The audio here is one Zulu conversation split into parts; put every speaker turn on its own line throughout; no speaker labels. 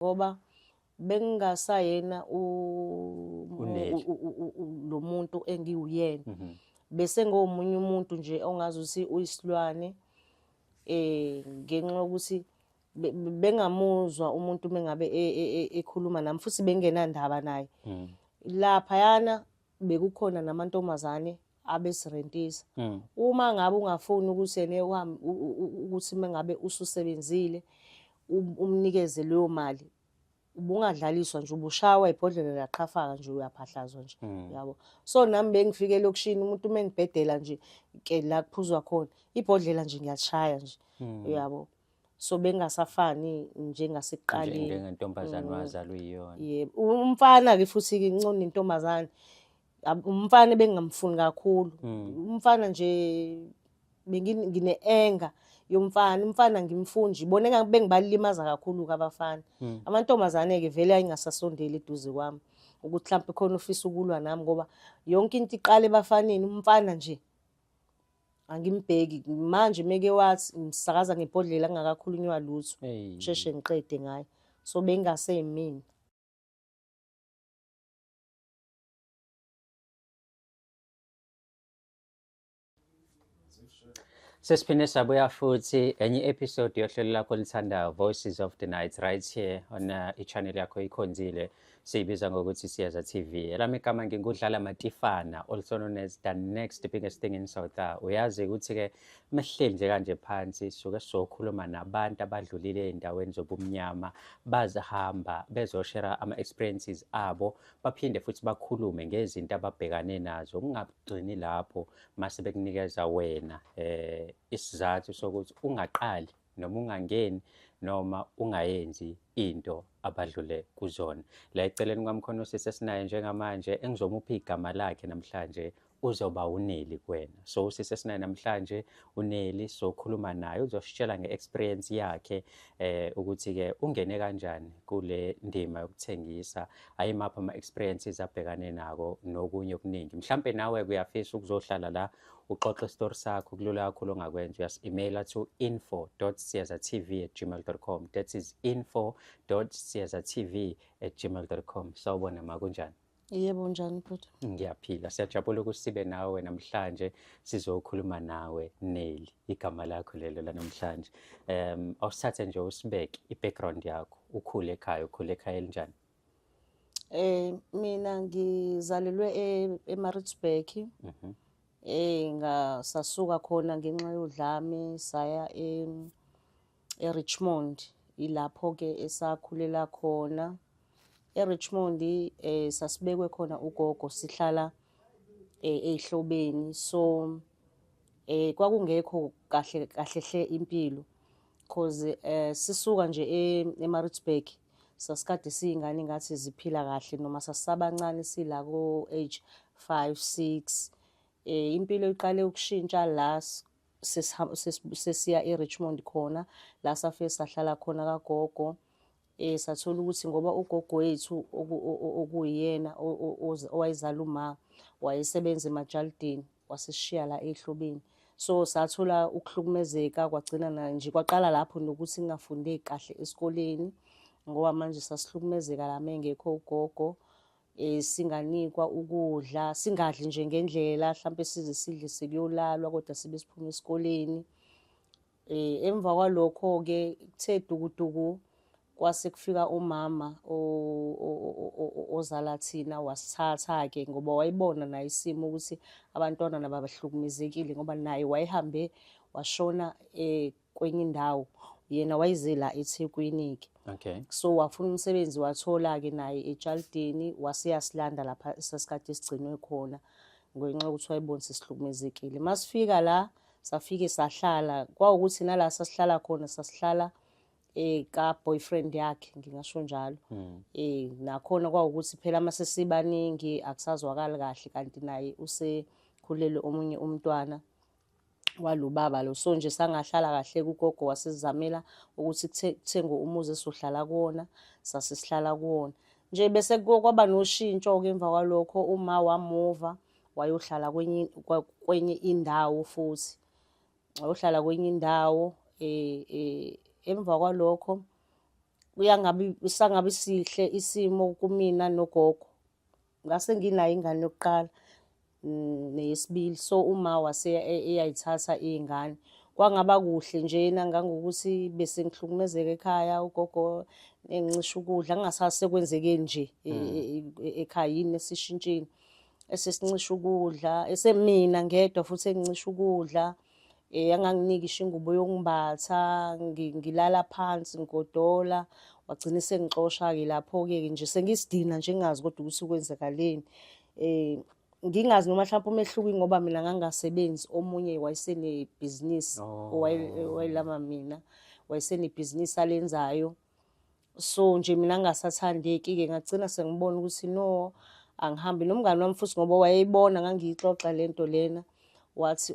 ngoba bengingasayena lo muntu engiwuyena mhm. bese
ngomunye
umuntu nje ongazi ukuthi uyisilwane eh ngenxa yokuthi bengamuzwa umuntu mengabe e, e, e, ekhuluma nami futhi bengenandaba naye mhm. lapha yana bekukhona namantombazane abesirentisa mm. uma ngabe ungafuni ukusene uhambe ukuthi mengabe ususebenzile um, umnikeze leyo mali ubungadlaliswa nje ubushawa ibhodlela laqhafaka nje uyaphahlazwa nje mm. yabo so nami bengifike lokushini umuntu uma engibhedela nje ke la kuphuzwa khona ibhodlela nje ngiyashaya nje mm. yabo so bengasafani njengasekuqaleni njengentombazane mm.
wazalwa iyona yebo umfana
ke futhi ke incona intombazane umfana bengamfuni kakhulu mm. umfana nje bengine anger yomfana umfana ngimfunji bona engabe bengibalimaza kakhulu kabafana mm. amantombazane ke vele ayingasasondeli eduze kwami ukuthi mhlawumbe khona ufisa ukulwa nami ngoba yonke into iqale ebafaneni umfana nje angimbheki manje meke wathi ngisakaza ngebhodlela kungakakhulunywa lutho sheshe ngiqede ngaye so bengase yimina
Sesiphinde sabuya futhi enye episode yohlelo lakho lithandayo Voices of the Night right here on uh, i-channel yakho ikhonzile. Siyibiza ngokuthi Siyeza TV. Elami igama ngingudlala Matifana also known as the next biggest thing in South Africa. Uyazi ukuthi ke mehleli nje kanje phansi suke sokhuluma nabantu abadlulile endaweni zobumnyama bazihamba bezoshera ama experiences abo baphinde futhi bakhulume ngezinto ababhekane nazo kungagcini lapho mase bekunikeza wena eh isizathu sokuthi ungaqali noma ungangeni noma ungayenzi into abadlule kuzona la eceleni kwamkhona usisi esinaye njengamanje engizomupha igama lakhe namhlanje uzoba uneli kuwena so usisi esinaye namhlanje uneli sokhuluma naye uzositshela nge-experience yakhe eh ukuthi-ke ungene kanjani kule ndima yokuthengisa ayimaphi ama-experiences abhekane nako nokunye okuningi mhlampe nawe kuyafisa ukuzohlala la uxoxe isitori sakho kulula kakhulu ongakwenza uyasi-emaila to info siezatv at gmail com that is info siezatv at gmail com sawubona ma kunjani yebo njani
bhuti ngiyaphila siyajabula
ukuthi sibe nawe namhlanje sizokhuluma nawe neli igama lakho lelo lanamhlanje um awusithathe nje usibeke i-background yakho ukhule ekhaya ukhule ekhaya elinjani Eh mina
ngizalelwe e- eMaritzburg. Mhm. Eh ngasasuka khona ngenxa yodlame saya e eRichmond ilapho ke esakhulela khona. ERichmond eh sasibekwe khona ugogo sihlala eh ehlobeni so eh kwakungekho kahle kahle hle impilo. cause eh sisuka nje e- eMaritzburg sasikade siyingane ngathi ziphila kahle noma sasabancane sila ko age 5 6 eh impilo iqale ukushintsha la s- sesiha- ses- sesiya eRichmond khona la safe sahlala khona kagogo Eh sathola ukuthi ngoba ugogo wethu okuyena owayezala uma wayesebenza emajalidini wasishiya la ehlobeni so sathola ukuhlukumezeka kwagcina nje kwaqala lapho nokuthi ngingafundi kahle esikoleni ngoba manje sasihlukumezeka la mengekho ugogo eh singanikwa ukudla singadli nje ngendlela mhlawumbe size sidle sekuyolalwa kodwa sibe siphuma esikoleni Eh, emva kwalokho-ke kuthe dukuduku kwase kufika umama ozala thina wasithatha-ke ngoba wayibona naye isimo ukuthi abantwana nabo abahlukumezekile ngoba naye wayehambe washona um kwenye indawo yena wayezela ethekwini-ke okay. so wafuna
umsebenzi
wathola-ke naye etshalideni waseyasilanda lapha sasikade sigcinwe khona ngenxa yokuthi wayebonisa sihlukumezekile masifika la safike sahlala kwawukuthi nala sasihlala khona sasihlala eh ka boyfriend yakhe ngingasho njalo hmm. eh nakhona kwawukuthi phela uma sesibaningi akusazwakali kahle kanti naye usekhulele omunye umntwana walubaba lo so nje sangahlala kahle kugogo wasizamela ukuthi kuthengwe umuzi esohlala kuwona sasisihlala kuwona nje bese kwaba noshintsho ke emva kwalokho uma wamuva wayohlala kwenye kwenye indawo futhi wayohlala kwenye indawo eh, eh emva kwalokho kuyangabi sangabi sihle isimo kumina nogogo ngase nginayo ingane yokuqala mm, neyesibili so uma wase e, eyayithatha izingane kwangaba kuhle njena ngangokuthi bese ngihlukumezeka ekhaya ugogo engincisha ukudla ngingasase kwenzekeni nje e, mm. e, ekhaya yini esishintshini esesincisha ukudla esemina ngedwa futhi engincisha ukudla eh anganginiki ishingubo yokumbatha ngilala phansi ngigodola wagcina sengixosha ke lapho ke nje sengisidina nje ngingazi kodwa ukuthi kwenzakaleni eh ngingazi noma mhlawumbe umehluko ngoba mina ngangasebenzi omunye wayesenebhizinisi oh. owayelama mina wayesenebhizinisi alenzayo oh. so nje mina ngingasathandeki-ke ngagcina sengibona ukuthi no angihambi nomngani wami futhi ngoba wayeyibona ngangiyixoxa le nto lena wathi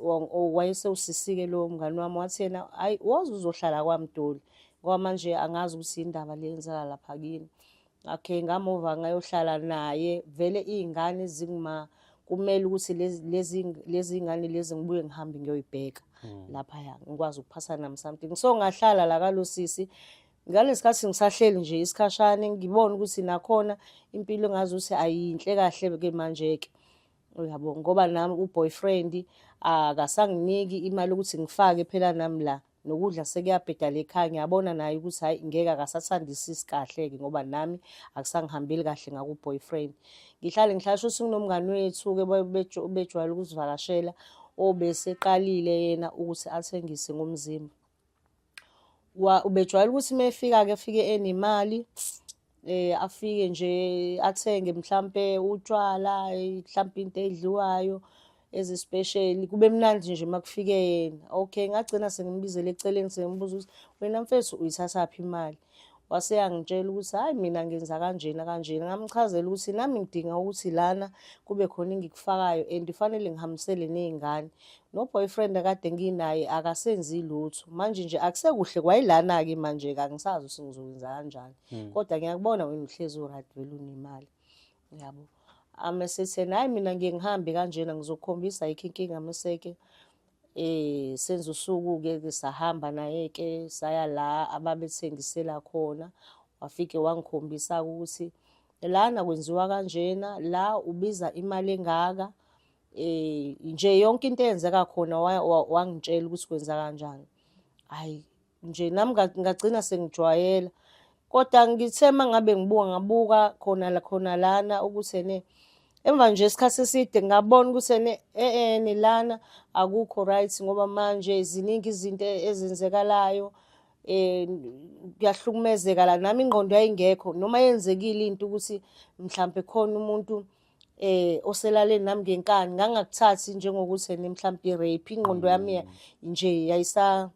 wayesewusisike lowo mngani wami wathi yena hhayi woze uzohlala kwamdoli ngoba manje angazi ukuthi yindaba le yenzeka lapha kini okay ngamova ngayohlala naye vele iy'ngane zinguma kumele ukuthi lezi lezi ingane lezi ngibuye ngihambe ngiyoyibheka hmm. lapha ya ngikwazi ukuphasa nami something so ngahlala la kalosisi ngalesikhathi ngisahleli nje isikhashane ngibona ukuthi nakhona impilo ngazi ukuthi ayinhle kahle ke manje ke uyabo ngoba nami uboyfriend akasanginiki imali ukuthi ngifake phela nami la nokudla sekuyabhedala ekhaya ngiyabona naye ukuthi hayi ngeke akasathandisisi kahle-ke ngoba nami akusangihambeli kahle ngaku-boyfriend ngihlale ngihlala sho singinomngani wethu-ke bejwayele ukusivakashela obeseqalile yena ukuthi athengise ngomzimba ubejwayele ukuthi uma efika-ke efike enemali eh afike nje athenge mhlambe utshwala mhlambe into edliwayo ezispecial kube mnandi nje makufike yena okay ngagcina sengimbizele eceleni sengibuza ukuthi wena mfethu uyithatha phi imali wase yangitshela ukuthi hayi mina ngenza kanjena kanjena ngamchazela ukuthi nami ngidinga ukuthi lana kube khona engikufakayo and fanele ngihambisele nezingane No boyfriend akade nginaye akasenzi lutho. Manje nje akusekuhle kwayilana ke manje ka ngisazi ukuthi ngizokwenza kanjani. Hmm. Kodwa ngiyakubona wena uhlezi uRad vele unemali. Yabo. Ame sethe naye mina ngiye ngihambe kanjena ngizokhombisa yikho inkinga meseke eh senza usuku ke sahamba naye ke saya la ababethengisela khona wafike wangikhombisa ukuthi lana kwenziwa kanjena la ubiza imali engaka eh nje yonke into eyenzeka khona wangitshela ukuthi kwenza kanjani hayi nje nami ngagcina sengijwayela kodwa ngithe uma ngabe ngibuka ngabuka khona la khona lana ukuthi ene emva nje isikhathi eside ngabona ukuthi ene eene eh, lana akukho right ngoba manje ziningi izinto ezenzekalayo eh kuyahlukumezeka la nami ingqondo yayingekho noma yenzekile into ukuthi mhlambe khona umuntu eh oselaleni nami ngenkani ngangakuthathi njengokuthi ene mhlawumbe i-rape ingqondo yami ya- nje yayisa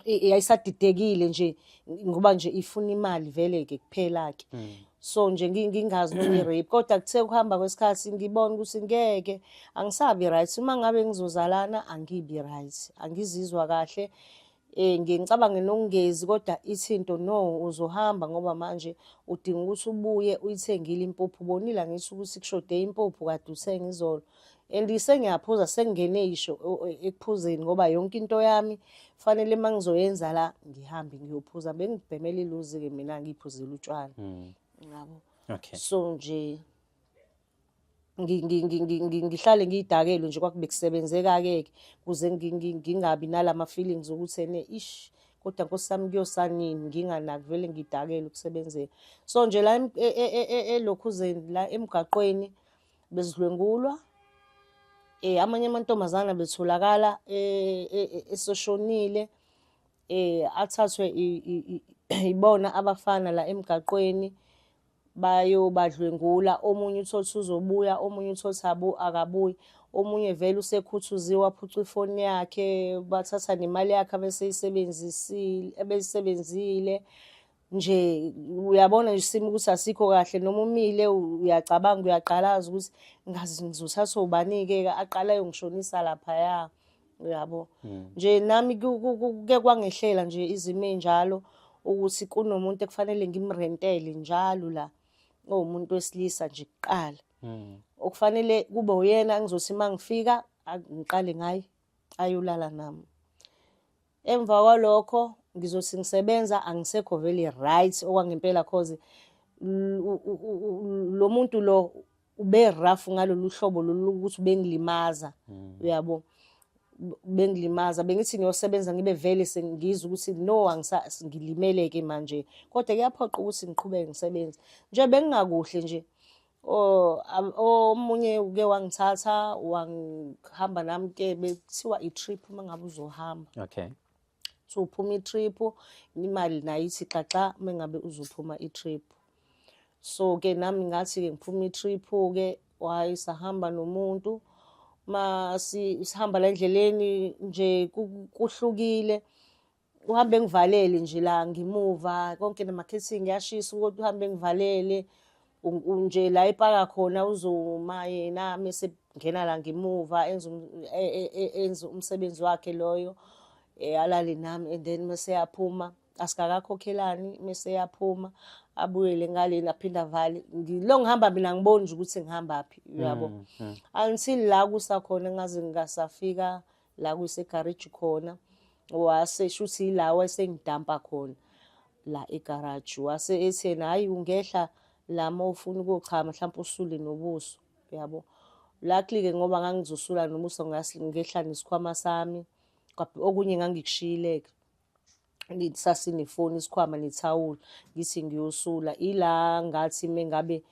i- yayisadidekile nje ngoba nje ifuna imali vele ke kuphela ke so nje ngi- ngingazi noma i-rape kodwa kuthe kuhamba kwesikhathi ngibona ukuthi ngeke angisabi right uma ngabe ngizozalana angibi right angizizwa kahle Eh ngicabanga nokungezi kodwa ithinto no uzohamba ngoba manje udinga ukuthi ubuye uyithengile impuphu bonila ngisho ukuthi kushode impuphu kade uthenga izolo and sengiyaphuza sengingene isho ekuphuzeni ngoba yonke into yami fanele uma ngizoyenza la ngihambe ngiyophuza bengibhemela iluzi-ke mina ngiyiphuzela utshwala hmm. ngabo okay. so
nje
ngihlale ngiyidakelo nje kwakube kusebenzeka-ke ke kuze ngingabi nalama feelings ukuthi ene ish kodwa nkosi sami kuyosanini nginganaki vele ngidakele ukusebenzeka so nje la e, e, e, elokhuzeni la emgaqweni bezidlwengulwa eh amanye amantombazana betholakala esoshonile eh athathwe ibona abafana la emgaqweni bayobadlwengula omunye uthole ukuthi uzobuya omunye uthole ukuthi abu akabuyi omunye vele usekhuthuziwe waphucwa ifoni yakhe bathatha nemali yakhe abeseyisebenzisile ebeyisebenzile nje uyabona nje isimo ukuthi asikho kahle noma umile uyacabanga uyaqalaza ukuthi ngazi ngizothathwa ubani-ke aqala yongishonisa laphaya uyabo hmm. nje nami kuke kwangehlela nje izimo enjalo ukuthi kunomuntu ekufanele ngimrentele njalo la owumuntu wesilisa nje kuqala hmm. okufanele kube uyena ngizothi uma ngifika ngiqale ngaye ayolala nami emva kwalokho ngizothi ngisebenza angisekho vele right okwangempela cause lo muntu lo ube rough ngalolu hlobo lolu ukuthi bengilimaza hmm. uyabo bengilimaza bengithi ngiyosebenza ngibe vele sengizwa ukuthi no ngilimeleke manje kodwa kuyaphoqa ukuthi ngiqhubeke ngisebenze nje bengingakuhle nje omunye uke wangithatha wangihamba nami ke bekuthiwa i-trip uma ngabe uzohamba okay
so uphuma
i-trip imali nayo ithi xaxa uma ngabe uzophuma i-trip so ke nami ngathi-ke ngiphuma i-trip-ke wayi sahamba nomuntu ma sihamba la endleleni nje kuhlukile uhambe ngivalele nje la ngimuva konke namakhethingi yashisa ukuthi uhambe ngivalele nje la epaka khona uzoma yena mese ngena la ngemuva enza um, e, e, e, enza umsebenzi wakhe loyo eh, alale nami and then mese yaphuma asikakakhokhelani mese yaphuma abuyele ngaleni aphinde avale ngilo ngihamba mina ngibona ukuthi ngihambaphi uyabo mm, mm. until la kusakhona ngaze ngingasafika la kusegarage khona wase shuthi yilawa esengidampa khona la egarage wase ethena hayi ungehla lama ufuna ukuchama mhlawumbe usule nobuso yabo luckily ke ngoba ngangizosula nobuso ngehla nesikhwama sami okunye ngangikushiyile ke sasinefoni isikhwama nethawula ngithi ngiyosula ila ngathi mengabe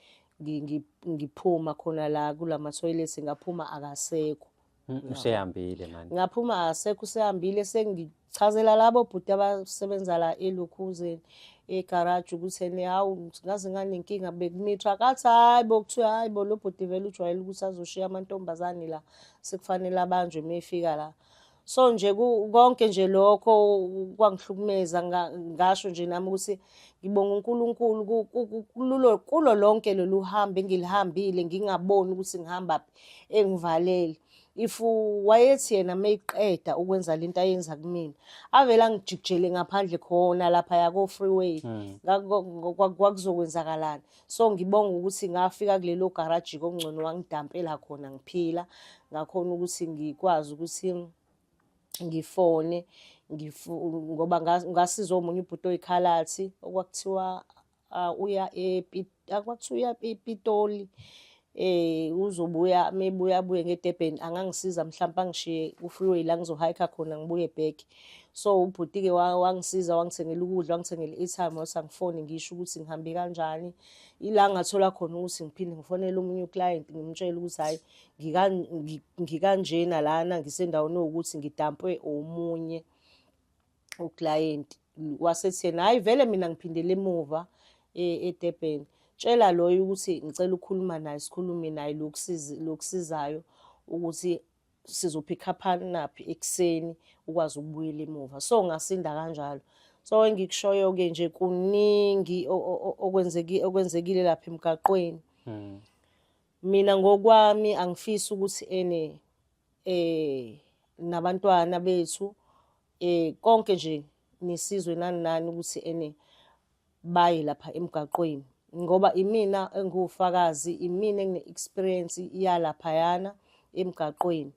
ngiphuma khona la kulama toilet ngaphuma akasekho mm, usehambile
manje ngaphuma akasekho
usehambile sengichazela labo bhuti abasebenza la elukhuzeni egaraji ukuthi ene hawu ngaze nganenkinga bekumithwa kathi hayi bo kuthiwa hayi bo lo bhuti vele ujwayele ukuthi azoshiya amantombazane la sekufanele abanjwe uma efika la so nje konke nje lokho kwangihlukumeza ngasho nje nami ukuthi ngibonga uNkulunkulu kulo kulo lonke lolu hambo engilihambile ngingaboni ukuthi ngihamba phi engivalele if wayethi yena mayiqeda ukwenza lento ayenza kumina avela ngijikjele ngaphandle khona lapha yako freeway hmm. kwakuzokwenzakalana so ngibonga ukuthi ngafika kulelo garaji kongcono wangidampela khona ngiphila ngakhona ukuthi ngikwazi ukuthi ngifone ngoba ngasiza omunye ubhuti oyikhalathi okwakuthiwa uya kwakuthiwa uya epitoli eh uzobuya mebuya buye ngeDurban angangisiza mhlawumbe angishiye kufreeway la ngizohayikha khona ngibuye back so ubhuti ke wangisiza wangithengela ukudla wangithengela i-airtime wathi angifone ngisho ukuthi ngihambe kanjani ila ngathola khona ukuthi ngiphinde ngifonele omunye uclient ngimtshele ukuthi hayi ngikanjena lana ngisendaweni ukuthi ngidampwe omunye uklayenti wasetheni hhayi vele mina ngiphindele emuva e, edurban tshela loyo ukuthi ngicela ukukhuluma naye sikhulume naye lokusizayo ukuthi sizophikhaphanaphi ekuseni ukwazi ukubuyela emuva so ngasinda kanjalo so engikushoyo-ke nje kuningi okwenzekile lapha emgaqweni hmm. mina ngokwami angifisi ukuthi ene eh nabantwana bethu eh konke nje nisizwe nani nani ukuthi ene baye lapha emgaqweni ngoba imina engiwufakazi imina engine-experience yalaphayana emgaqweni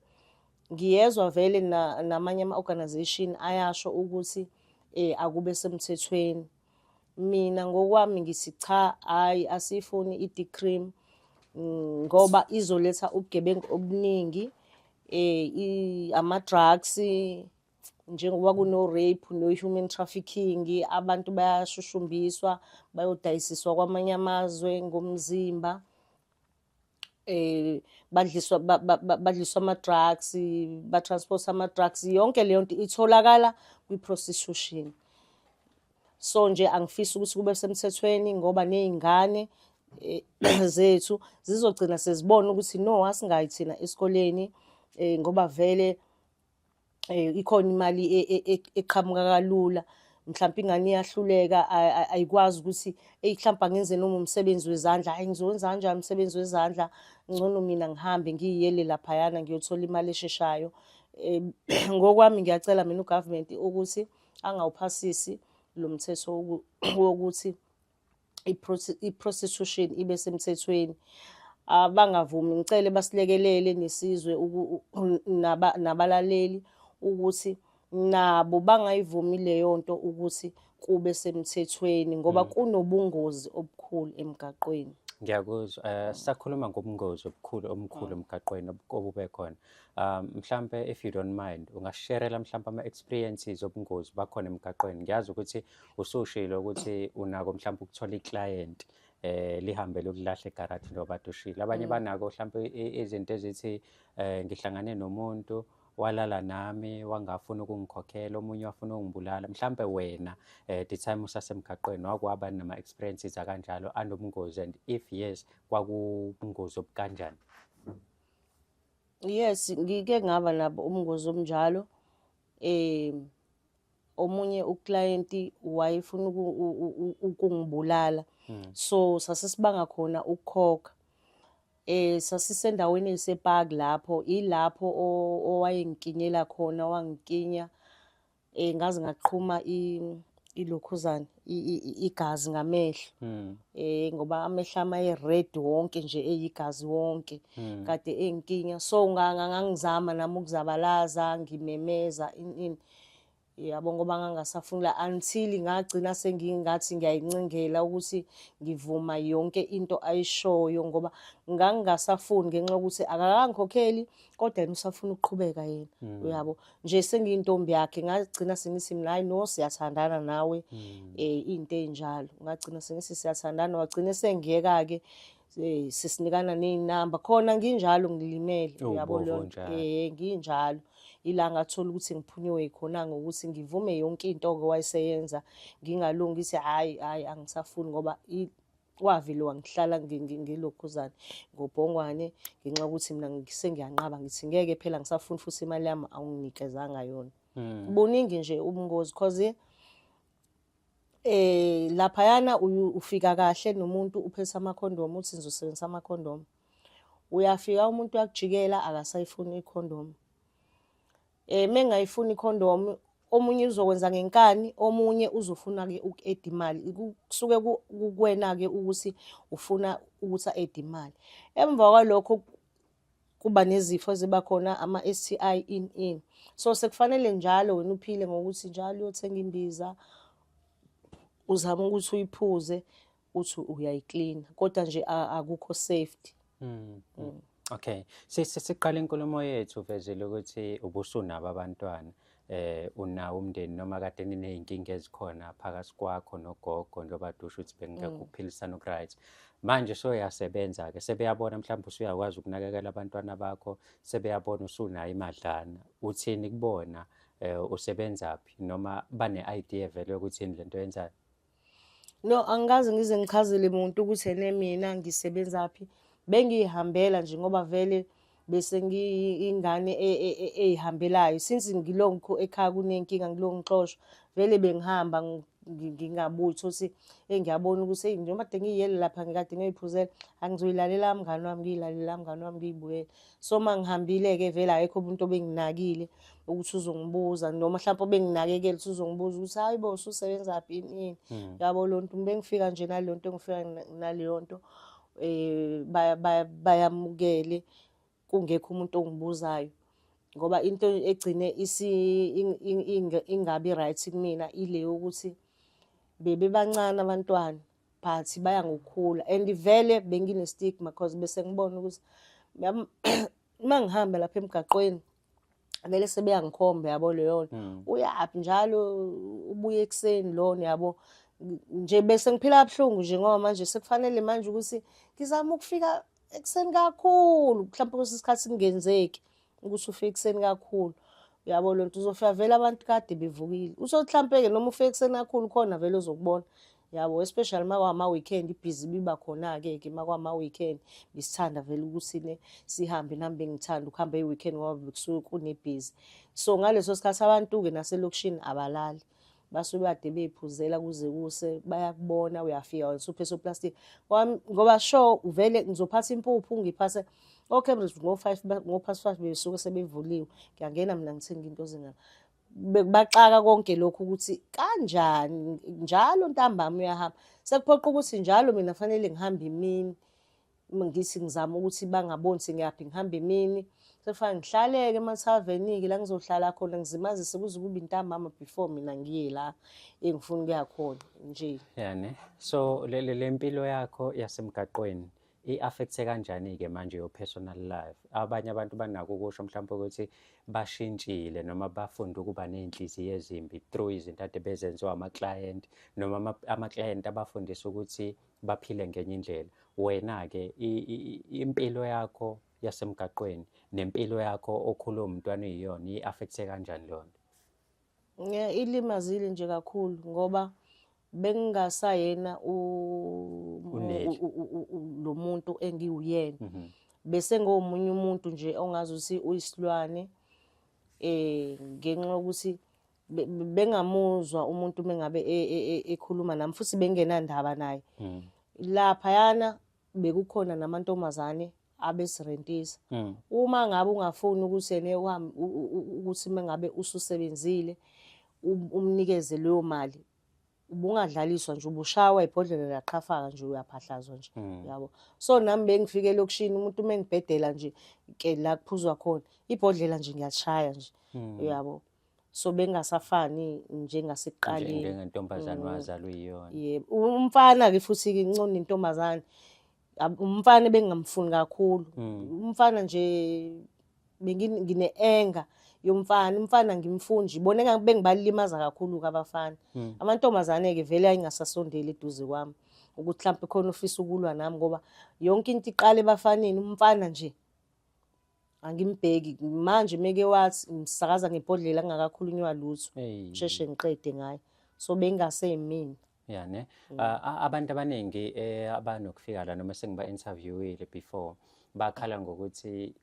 ngiyezwa vele namanye ama-organization ayasho ukuthi um akube semthethweni mina ngokwami ngithi cha hayi asiyifuni i-decream mm, ngoba izoletha ubugebengu obuningi um ama-drugs njengoba kuno-rape no-human trafficking abantu bayashushumbiswa bayodayisiswa kwamanye amazwe ngomzimba eh badliswa badliswa ama drugs ba transport ama drugs yonke leyo nto itholakala kwi prostitution so nje angifisi ukuthi kube semthethweni ngoba nezingane eh, zethu zizogcina sezibona ukuthi no asingayi thina esikoleni eh, ngoba vele eh, ikhona imali e, e, e, eqhamuka kalula mhlawumbe ingane iyahluleka ayikwazi ukuthi eyi mhlawumbe angenze noma umsebenzi wezandla hayi ngizowenza kanjani umsebenzi wezandla ngcono mina ngihambe ngiyiyele laphayana ngiyothola imali esheshayo um ngokwami ngiyacela mina ugovernment ukuthi angawuphasisi lo mthetho wokuthi i-prostitution ibe semthethweni abangavumi ngicele basilekelele nesizwe nabalaleli ukuthi nabo bangayivumi leyo nto ukuthi kube semthethweni ngoba mm. kunobungozi obukhulu emgaqweni ngiyakuzwa um
sakhuluma ngobungozi obukhulu omkhulu mm. emgaqweni obube khona um mhlampe if you don't mind ungasherela mhlampe ama-experiences obungozi bakhona emgaqweni ngiyazi ukuthi usushilo ukuthi unako mhlawumbe ukuthola iclient eh lihambe lokulahla egarage njengoba dushile abanye mm. banako mhlawumbe izinto ezithi eh ngihlangane nomuntu walala nami wangafuna ukungikhokhela omunye wafuna ukungibulala mhlambe wena eh the time usasemgaqweni wakwaba nama experiences akanjalo anobungozi and if yes kwakubungozi obukanjani
yes ngike ngaba nabo ubungozi obunjalo eh omunye uclienti wayefuna ukungibulala hmm. so sasesibanga khona ukukhokha eh sasisendaweni esepark lapho ilapho owayengikinyela khona wangikinya eh ngaze ngaqhuma ilokhuzana igazi ngamehlo hmm. eh ngoba amehlo ama red wonke nje eyigazi wonke hmm. kade engikinya so ngangizama nami ukuzabalaza ngimemeza ini yabo ngoba ngangasafuni la until ngagcina sengingathi ngiyayincengela ukuthi ngivuma yonke into ayishoyo ngoba ngangingasafuni ngenxa yokuthi akakangikhokheli kodwa yena usafuna ukuqhubeka yena mm. uyabo nje sengiyintombi yakhe ngagcina sengithi mina hayi no siyathandana nawe um mm. eh, into enjalo ngagcina sengithi siyathandana wagcina sengiyeka-ke Hey, sisinikana neynamba khona nginjalo ngilimele Oh, uyabo bobo leyo nto. njalo. eh nginjalo ila ngathola ukuthi ngiphunyiwe khona ngokuthi ngivume yonke into oke wayeseyenza ngingalungi ithi hayi hayi angisafuni ngoba i- wavele wangihlala ngi- ngi- ngilokhuzane ngobhongwane ngenxa yokuthi mina ngi- sengiyanqaba ngithi ngeke phela ngisafuni futhi imali yami awunginikezanga yona Mm. buningi nje ubungozi cause Eh laphayana ufika kahle nomuntu uphethe amakhondomu uthi ngizosebenzisa amakhondomu. Uyafika umuntu uyakujikela akasayifuni ikhondomu. Eh mengayifuni ikhondomu omunye uzokwenza ngenkani omunye uzofuna ke uku-add imali kusuke kukwena ke ukuthi ufuna ukuthi a-add imali emva kwalokho kuba nezifo eziba khona ama-STI in in so sekufanele njalo wena uphile ngokuthi njalo uyothenga imbiza uzama ukuthi uyiphuze uthi uyayiklina kodwa nje akukho safety mm. Mm.
okay sisiqala inkulumo yethu vezile ukuthi ubusunabo abantwana eh unawo umndeni noma kade ninezinkinga ezikhona phakathi kwakho nogogo njengoba dusho ukuthi bengingakuphilisana mm. right manje soyasebenza ke sebeyabona mhlawumbe usuyakwazi ukunakekela abantwana bakho sebeyabona usunayo imadlana uthini kubona eh usebenzaphi noma bane idea vele ukuthi yini lento yenzayo No,
angikaze ngize ngichazele muntu ukuthi ene mina ngisebenza phi. Bengiyihambela nje ngoba vele bese ngiyingane e, e, e, eyihambelayo since ngilonku ekhaya kunenkinga ngilongixoshwa vele bengihamba ngingabuthi ukuthi engiyabona ukuthi hey njengoba de ngiyiyele lapha ngikade ngiyoyiphuzela angizoyilalela mngani wami ngiyilalela mngani wami ngiyibuyele so uma ngihambile-ke vele akekho umuntu obenginakile ukuthi uzongibuza noma mhlawumpe obenginakekela ukuthi uzongibuza ukuthi hayi bo ususebenza phi yini hmm. yabo lo nto bengifika nje nalo nto ngifika naleyo nto um bayamukele kungekho umuntu ongibuzayo ngoba into egcine ingabi right kumina ile yokuthi bebebancane abantwana but baya ngokukhula and vele bengine stigma because bese ngibona ukuthi uma ngihamba lapha emgaqweni vele sebeyangikhomba yabo leyo nto hmm. uyaphi njalo ubuye ekuseni lona yabo nje bese ngiphila kabuhlungu nje ngoba manje sekufanele manje ukuthi ngizama ukufika ekuseni kakhulu mhlawumbe kwesinye isikhathi kungenzeki ukuthi ufike ekuseni kakhulu uyabo loo nto uzofika vele abantu kade bevukile usokuhlampeke noma ufike ekuseni kakhulu khona vele ozokubona yabo especially makwama-weekend ibhizi biba khona-ke ke makwama-weekend bisithanda vele ukuthi ne sihambe nami bengithanda ukuhamba i-weekend ngoba bekusuke kunebhizi so ngaleso sikhathi abantu-ke naselokishini abalali basuke kade beyiphuzela kuze kuse bayakubona uyafika wena usuphe soplastic ngoba sho uvele ngizophatha impuphu ngiphathe oCambridge ngo-five ngo-past five besuke sebevuliwe ngiyangena mina ngithenga into zingaka bekubaxaka konke lokhu ukuthi kanjani njalo ntambama uyahamba sekuphoqa ukuthi njalo mina fanele ngihambe imini uma ngithi ngizama ukuthi bangaboni ukuthi ngiyaphi ngihamba emini sekufanele ngihlaleke emathaveniki la ngizohlala khona ngizimazise kuze kube intambama before mina ngiye la engifuna ukuya khona nje yani so
le le mpilo yakho yasemgaqweni i-affecthe kanjani-ke manje yo-personal life abanye abantu banako ukusho mhlawumpe ukuthi bashintshile noma bafunde ukuba ney'nhliziyo ezimbi through izinto ade bezenziwa amaklayenti noma amaklayenti abafundisa ukuthi baphile ngenye indlela wena-ke impilo yakho yasemgaqweni nempilo yakho okhula umntwana uyiyona i-affekthe kanjani leyo nto ilimazile
nje kakhulu ngoba bengingasayena lo muntu engiwuyena mhm. bese ngomunye umuntu nje ongazi ukuthi uyisilwane eh ngenxa yokuthi bengamuzwa umuntu mengabe e, e, e, ekhuluma nami futhi bengenandaba naye mm. laphayana bekukhona namantombazane abesirentisa mm. uma ngabe ungafuni ukuthi ene ukuthi mengabe ususebenzile um, umnikeze leyo mali ubungadlaliswa nje ubushawa ibhodlela laqhafaka nje uyaphahlazwa nje hmm. yabo so nami bengifike lokushini umuntu uma engibhedela nje ke la kuphuzwa khona ibhodlela nje ngiyashaya nje hmm. uyabo so bengasafani njengasekuqaleni njengentombazane mm.
wazalwa iyona yebo umfana
ke futhi ke incona intombazane umfana bengamfuni kakhulu mm. umfana nje bengine anger yomfana umfana ngimfunji bona engabe bengibalimaza kakhulu kabafana mm. amantombazane ke vele ayingasasondeli eduze kwami ukuthi mhlawumbe khona ufisa ukulwa nami ngoba yonke into iqale ebafaneni umfana nje angimbheki manje meke wathi ngisakaza ngebhodlela kungakakhulunywa lutho sheshe ngiqede ngaye so bengase yimina ya ne mm.
abantu abaningi eh, abanokufika la noma sengiba interviewile before bakhala ngokuthi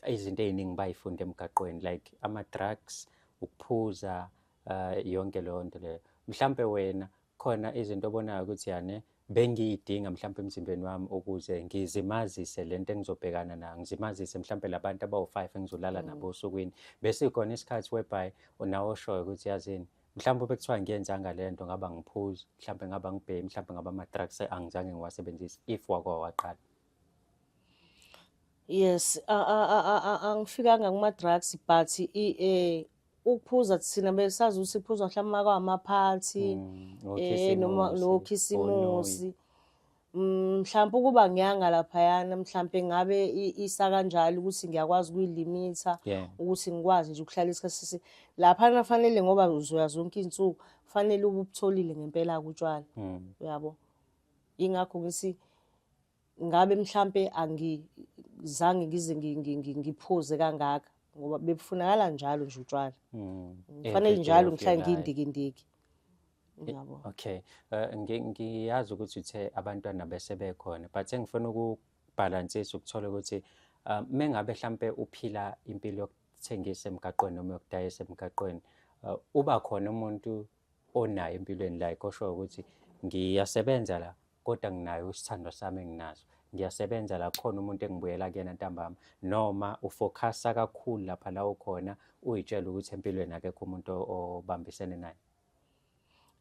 izinto eziningi bayifunda emgaqweni like ama drugs ukuphuza eh, yonke leyo nto leyo mhlambe wena khona izinto obonayo ukuthi yani bengiyidinga mhlawumbe emzimbeni wami ukuze ngizimazise le nto engizobhekana nayo ngizimazise mhlawumbe labantu abawu-five engizolala mm. nabo osukwini bese khona isikhathi whereby nawe oshoyo ukuthi yazini mhlawumbe bekuthiwa ngiyenzanga le nto ngaba ngiphuzi mhlawumbe ngaba ngibhemi mhlawumbe ngaba ama-drugs angizange ngiwasebenzise if wakwa waqala
yes angifikanga kuma-drugs but eh, ukuphuza thina besazi ukuthi kuphuzwa mhlawumbe uma kwamaphathi Mm, um okhisimusi, noma onoyi. nokhisimusi Mm, mhlawumbe ukuba ngiyanga laphayana mhlawumbe ngabe i- isa kanjalo ukuthi ngiyakwazi ukuyilimitha Yeah. ukuthi ngikwazi nje ukuhlala isikhathi sisi laphana fanele ngoba uzoya zonke iy'nsuku fanele ube ubutholile ngempela-ke utshwala Mm. uyabo yingakho ngithi ngabe mhlampe angizange ngize ngiphuze kangaka ngoba bebufunakala njalo nje utshwala mm. kufanele eh, njalo ngihlale ngiyindikindiki eh, yabo okay
eh, ngiyazi ukuthi uthe abantwana bese bekhona but engifuna ukubhalansisa ukuthola ukuthi um, mengabe mhlampe uphila impilo yokuthengisa emgaqweni noma yokudayisa emgaqweni uh, uba khona umuntu onayo empilweni like osho ukuthi ngiyasebenza la kodwa nginayo isithando sami enginaso ngiyasebenza la khona umuntu engibuyela kuyena ntambama noma ufocusa kakhulu lapha la ukhona uyitshela ukuthi empilweni akekho umuntu obambisene naye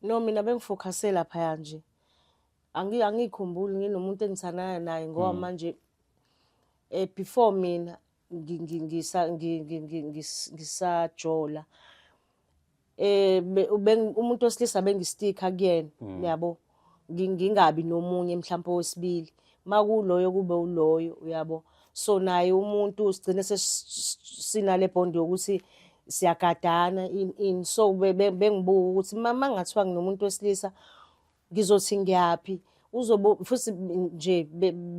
no
mina bengifocuse laphaya nje angiyikhumbuli nginomuntu engithanayo naye ngoba mm. manje um before mina ngisajola eh umuntu osilisa bengistika kuyena mm. uyabo ngingabi nomunye mhlawumbe owesibili makuloyo kube uloyo uyabo so naye umuntu sigcine sinale bond yokuthi siyagadana in so bengibuka ukuthi mama ngathiwa nginomuntu wesilisa ngizothi ngiyaphi uzobe futhi nje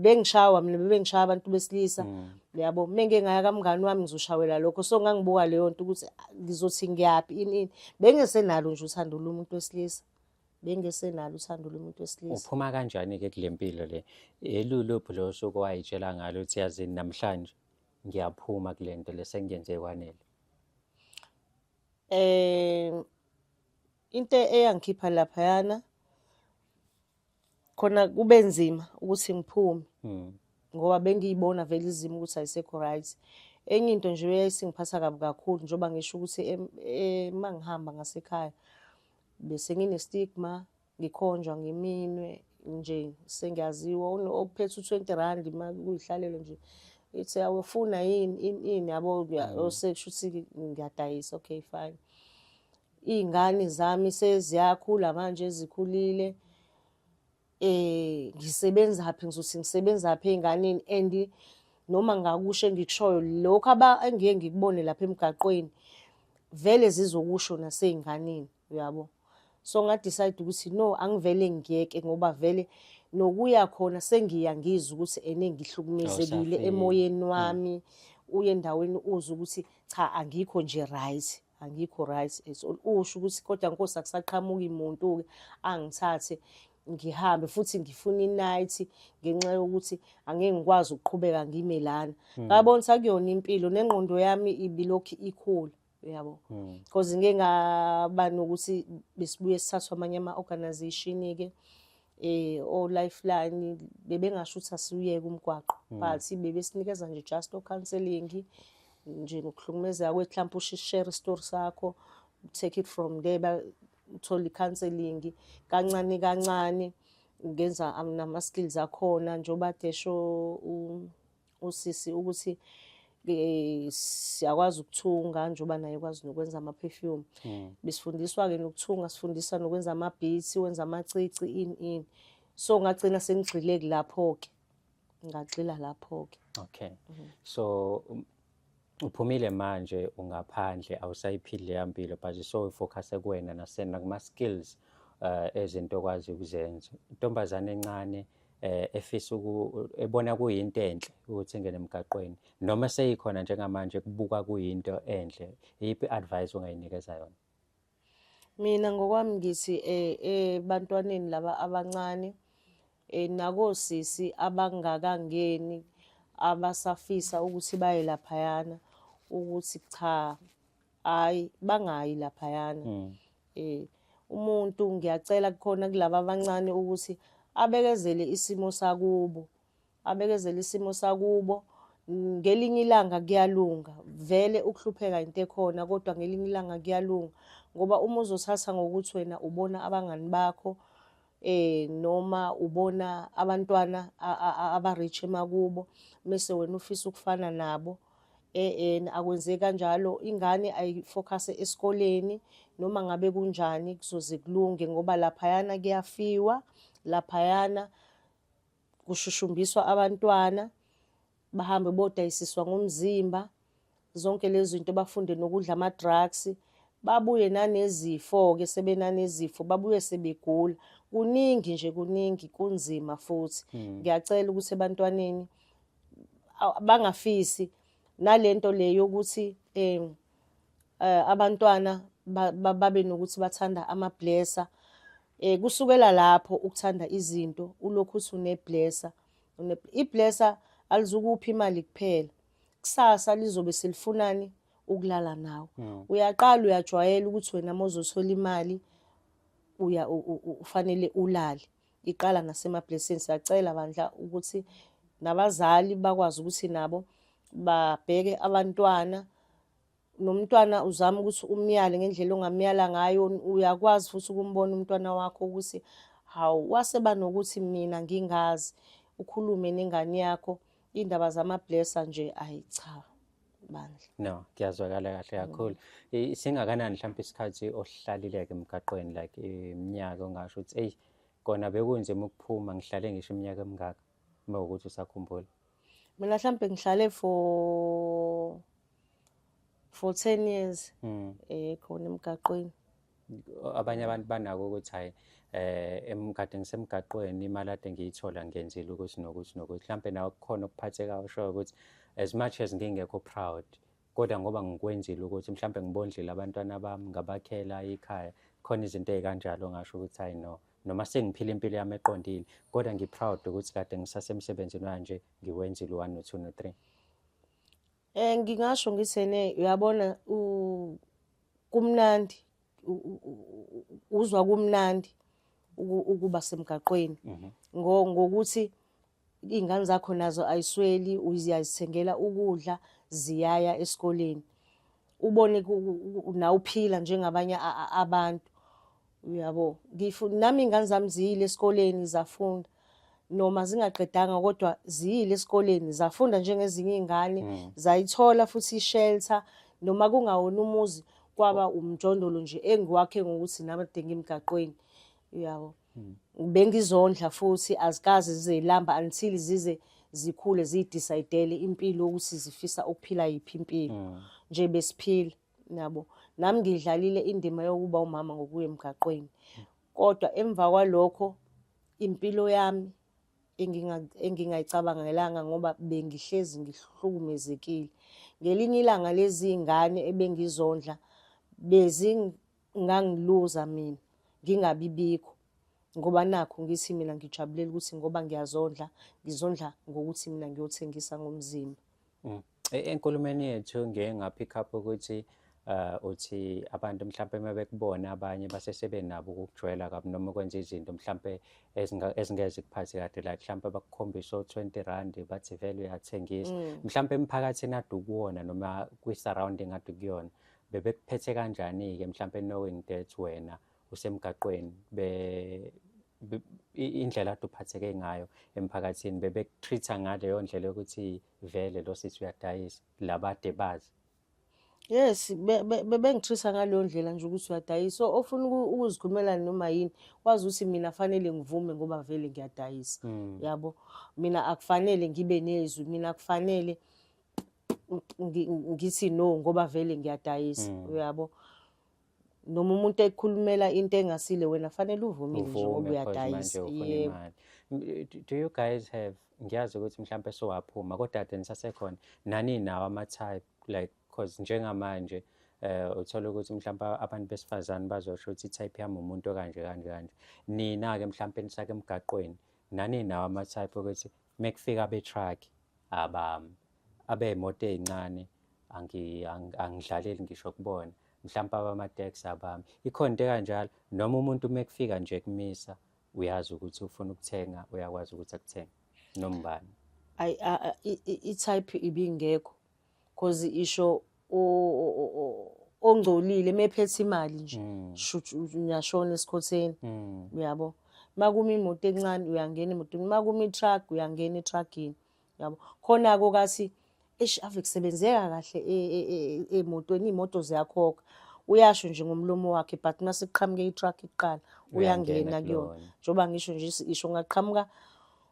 bengishawa mina bebengishaya abantu besilisa mm. yabo mina ngeke ngaya kamngani wami ngizoshawela lokho so ngangibuka leyo nto ukuthi ah, ngizothi ngiyaphi ini ini bengesenalo nje uthando lomuntu wesilisa bengesenalo uthando lomuntu wesilisa uphuma kanjani ke kule
mpilo le eluluphi lo suku wayitshela ngalo ukuthi yazini namhlanje ngiyaphuma kule nto lesengiyenze kwanele eh
Into eyangikhipha laphayana khona kube nzima ukuthi ngiphume hmm. ngoba bengiyibona vele izimo ukuthi ayisekho right enye into nje eyayisingiphatha kabi kakhulu njengoba ngisho ukuthi uma ngihamba ngasekhaya bese ngine-stigma ngikhonjwa ngiminwe nje sengiyaziwa okuphethe u-twenty rand uma kuyihlalele nje ithi awufuna yini ini yabo hmm. osekusho ukuthi ngiyadayisa okay fine Iy'ngane zami seziyakhula manje ezikhulile eh ngisebenzaphi ngizothi ngisebenzaphi ey'nganeni and noma ngakusho engikushoyo lokho engiye ngikubone lapha emgaqweni vele zizokusho nasey'nganeni uyabo so ngadecide ukuthi no angivele ngiyeke ngoba vele nokuya khona sengiya ngizwa ukuthi ene ngihlukumezekile emoyeni wami uye endaweni uzwa ukuthi cha angikho nje right angikho right at all usho ukuthi kodwa nkosi akusaqhamuki muntu ke angithathe ngihambe futhi ngifuna inight ngenxa yokuthi angeke ngikwazi ukuqhubeka ngime lana hmm. ngabona ukuthi akuyona impilo nengqondo yami ibilokhu ikhula uyabo hmm. because ngeke ngaba nokuthi besibuye sithathwa amanye ama-organization-ke eh o lifeline bebengasho ukuthi asiyeke umgwaqo hmm. but bebesinikeza nje just o counseling nje ngokuhlukumezeka kwethu mhlawumbe ushare story sakho take it from there uthola i-counseling kancane kancane ngenza nama-skills akhona njengoba desho usisi ukuthi eh, siyakwazi ukuthunga njengoba naye kwazi nokwenza ama-perfume mm. besifundiswa-ke nokuthunga sifundisa nokwenza ama-beats wenza amacici ini ini so ngagcina sengigxileki lapho-ke ngagxila lapho-ke okay mm.
so um, uphumile manje ungaphandle awusayiphili leya mpilo but so ifocuse kuwena nasena kuma-skills uh, ezinto okwazi ukuzenza intombazane encane eh efisa uku ebona kuyinto enhle ukuthi ingene emgaqweni noma seyikhona njengamanje kubuka kuyinto enhle iyiphi advice ongayinikeza yona Mina
ngokwami ngithi ebantwaneni laba abancane nakosisi abangakangeni abasafisa ukuthi baye laphayana ukuthi cha hayi bangayi laphayana um umuntu ngiyacela kukhona kulaba abancane ukuthi abekezele isimo sakubo abekezele isimo sakubo ngelinye ilanga kuyalunga vele ukuhlupheka into ekhona kodwa ngelinye ilanga kuyalunga ngoba uma uzothatha ngokuthi wena ubona abangani bakho eh noma ubona abantwana aba-rich emakubo mese wena ufisa ukufana nabo eh akwenzeki kanjalo ingane ayifocuse esikoleni noma ngabe kunjani kuzoze kulunge ngoba laphayana kuyafiwa laphayana kushushumbiswa abantwana bahambe bodayisiswa ngomzimba zonke lezi zinto bafunde nokudla ama-drugs babuye nanezifo-ke sebenanezifo babuye sebegula kuningi nje kuningi kunzima futhi hmm. ngiyacela ukuthi ebantwaneni bangafisi nalento le yokuthi um eh, abantwana babe nokuthi bathanda amablesser eh kusukela lapho ukuthanda izinto ulokhu uthi uneblesser iblesser alizukuphi imali kuphela kusasa lizobe selifunani ukulala nawe hmm. uyaqala uyajwayela ukuthi wena mozothola imali uya ufanele ulale iqala nasema-blessing siyacela bandla ukuthi nabazali bakwazi ukuthi nabo babheke abantwana nomntwana uzama ukuthi umyale ngendlela ongamyala ngayo uyakwazi futhi ukumbona umntwana wakho ukuthi hawu waseba nokuthi mina ngingazi ukhulume nengane yakho iy'ndaba zama-blessa nje ayi cha bandla no kuyazwakala
kahle kakhulu mm. singakanani mhlawumbe isikhathi ohlalileke emgaqweni like iminyaka ongasho ukuthi eyi kona bekunzima ukuphuma ngihlale ngisho iminyaka emingaka uma ukuthi usakhumbula mina mhlawumbe
ngihlale for for ten years um khona emgaqweni abanye
abantu banako ukuthi hayi eh emgade ngisemgaqweni imali ade ngiyithola ngenzile ukuthi nokuthi nokuthi mhlampe nawe kukhona okuphatheka ushoyo ukuthi as much as ngingekho proud kodwa ngoba ngikwenzile ukuthi mhlampe ngibondlile abantwana bami ngabakhela ikhaya khona izinto ezikanjalo ngasho ukuthi hayi no noma sengiphila impilo yami eqondile kodwa ngiproud ukuthi kade ngisasemsebenzini wanje ngiwenzile u-1 no-2 no-3 Eh ngingasho
ngithene uyabona kumnandi uzwa kumnandi ukuba semgaqweni mhm. ngokuthi iy'ngane zakho nazo ayisweli uyazithengela ukudla ziyaya esikoleni ubone nawuphila njengabanye abantu uyabo ngisho nami iy'ngane zami ziyile esikoleni zafunda noma zingaqedanga kodwa ziyile esikoleni zafunda njengezinye iy'ngane mm. zayithola futhi ishelter noma kungawona umuzi kwaba umjondolo nje engiwakhe ngokuthi namade ngimgaqweni uyabo mm. bengizondla futhi azikazi zizelamba until zize zikhule ziyidicayidele impilo ukuthi zifisa ukuphila yiphi impilo mm. nje besiphila nabo nami ngidlalile indima yokuba umama ngokuya emgaqweni kodwa emva kwalokho impilo yami engingayicabangelanga ngoba bengihlezi ngihlukumezekile ngelinye ilanga lezi ingane ebengizondla bezingangiluza mina ngingabibikho ngoba nakho ngithi mina ngijabulela ukuthi ngoba ngiyazondla ngizondla ngokuthi mina ngiyothengisa ngomzimba Mm. E,
enkulumeni yethu ngeke ngaphikha ukuthi uh uthi abantu mhlawumbe uma bekubona abanye basesebe nabo ukujwayela kabi noma ukwenza izinto mhlawumbe ezingeze kuphathi kade like mhlawumbe bakukhombisa o-20 rand bathi vele uyathengisa mm. mhlawumbe emphakathini ade ukuwona noma kwi-surrounding ade kuyona bebekuphethe kanjani-ke mhlawumbe knowing that wena usemgaqweni be indlela ade uphatheke ngayo emphakathini bebekutreat-a ngaleyo ndlela yokuthi vele lo sisi uyadayisa labade bazi yes
bebengitreat-a ngaleyo ndlela nje ukuthi uyadayisa so ofuna ukuzikhulumela noma yini wazi ukuthi mina fanele ngivume ngoba vele ngiyadayisa hmm. yabo mina akufanele ngibe nezwi mina akufanele ngithi no ngoba vele ngiyadayisa hmm. uyabo mm. noma umuntu ekhulumela into engasile wena fanele uvume nje ngoba uyadayisa yebo do
you guys have ngiyazi ukuthi mhlawumbe sowaphuma kodwa ade nisasekhona nani nawo ama-type like cause njengamanje eh uthola ukuthi mhlawumbe abantu besifazane bazosho ukuthi type yami umuntu kanje kanje kanje nina ke mhlawumbe nisake emgaqweni nani nawo ama-type ukuthi mekufika be-truck abami abeemoto ey'ncane angidlaleli ngisho kubona mhlawumpe abama-tax abami ikhona into ekanjalo noma umuntu uma ekufika nje kumisa uyazi ukuthi ufuna ukuthenga uyakwazi ukuthi akuthenge noma ubani ayi i-type
ibingekho cause isho ongcolile mephethe imali nje mm. shuthi uyashona esikhotheni mm. uyabo makumi imoto encane uyangena emotweni makumi truck uyangena etruckini yabo khona-ke okathi eish ave kusebenzeka kahle e, e, e, emotweni iy'moto ziyakhokha uyasho nje ngomlomo wakhe but uma sekuqhamuke i-truck kuqala uyangena kuyona njengoba ngisho nje isho ngaqhamuka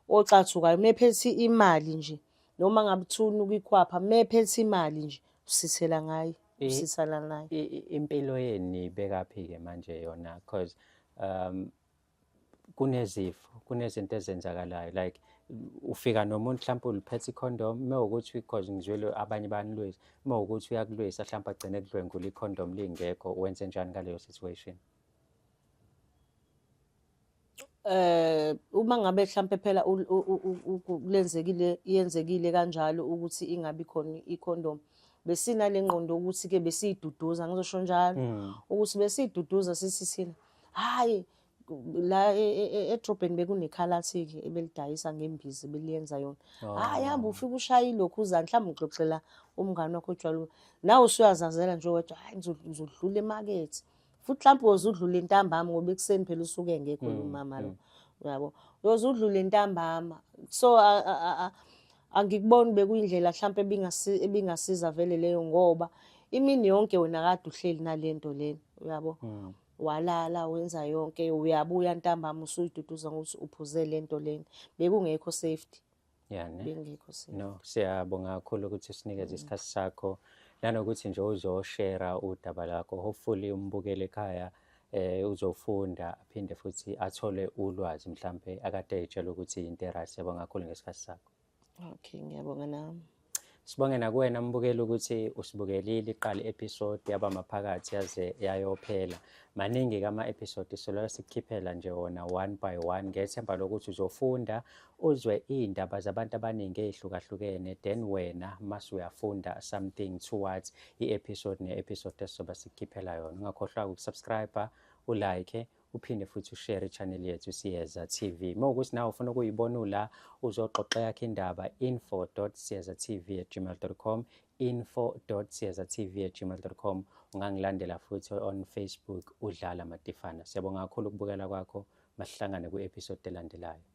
ocathukayo mephethe imali nje noma ngabe uthuna ukuyikhwapha mephethe imali nje usithela ngayo usithela nayo impilo yenu
ibekaphi-ke manje yona because um kunezifo kunezinto ezenzakalayo like ufika nomuntu mhlawumpe uliphethe ikhondom uma ukuthi because ngizwele abanye banilwisa uma ukuthi uyakulwisa mhlawumpe agcine kudlwengula ikhondom lingekho wenze njani ngaleyo situation eh
uma ngabe mhlambe phela lenzekile yenzekile kanjalo ukuthi ingabi khona icondom besina lengqondo ukuthi ke besiyiduduza ngizosho njalo mm. ukuthi besiyiduduza sithi thina hayi la e, e, e, edrobheni bekunekhalathi-ke ebelidayisa ngembizi beliyenza yona oh. hayi hamba ufike ushaye ilokhu uzani mhlawumbe uxoxela umngane wakho otshwala nawe usuyazazela nje wedwa hayi ngizodlula emakethe futhi mhlawumbe woze udlule intambama ngoba ekuseni phela usuke engekho mm, umama lo mm. yabo uyoze udlule intambama so Angikuboni bekuyindlela mhlampe ebingasi ebingasiza vele leyo ngoba imini yonke wena kade uhleli nalento lena uyabo. Mm. Walala wenza yonke uyabuya ntambama usuyiduduza ngokuthi uphuze lento lena. Bekungekho safety. Yeah, ne? Bengekho safety. No, siyabonga
kakhulu ukuthi usinikeze mm. isikhathi sakho. Nanokuthi nje uzoshare udaba lakho. Hopefully umbukele ekhaya eh uzofunda aphinde futhi athole ulwazi mhlambe akade etshela ukuthi into right yabonga kakhulu ngesikhathi sakho okay ngiyabonga
nami Sibonge nakuwena
mbukeli ukuthi usibukelile iqala episode yaba maphakathi yaze yayophela. Maningi kama episode solo sikhiphela nje wona one by one ngethemba lokuthi uzofunda uzwe iy'ndaba zabantu abaningi ey'hlukahlukene then wena mase uyafunda something towards i-episode ne-episode esizobe sikukhiphela yona ungakhohlwa-ke ukusubscribe ulike uphinde futhi ushare i-channel yethu siyeza tv uma ukuthi nawe ufuna ukuyibona ula uzoxoxa yakho indaba info siyeza tv at gmail com info siyeza tv at gmail com ungangilandela futhi on facebook udlala matifana siyabonga kakhulu ukubukela kwakho masihlangane kwi-episode elandelayo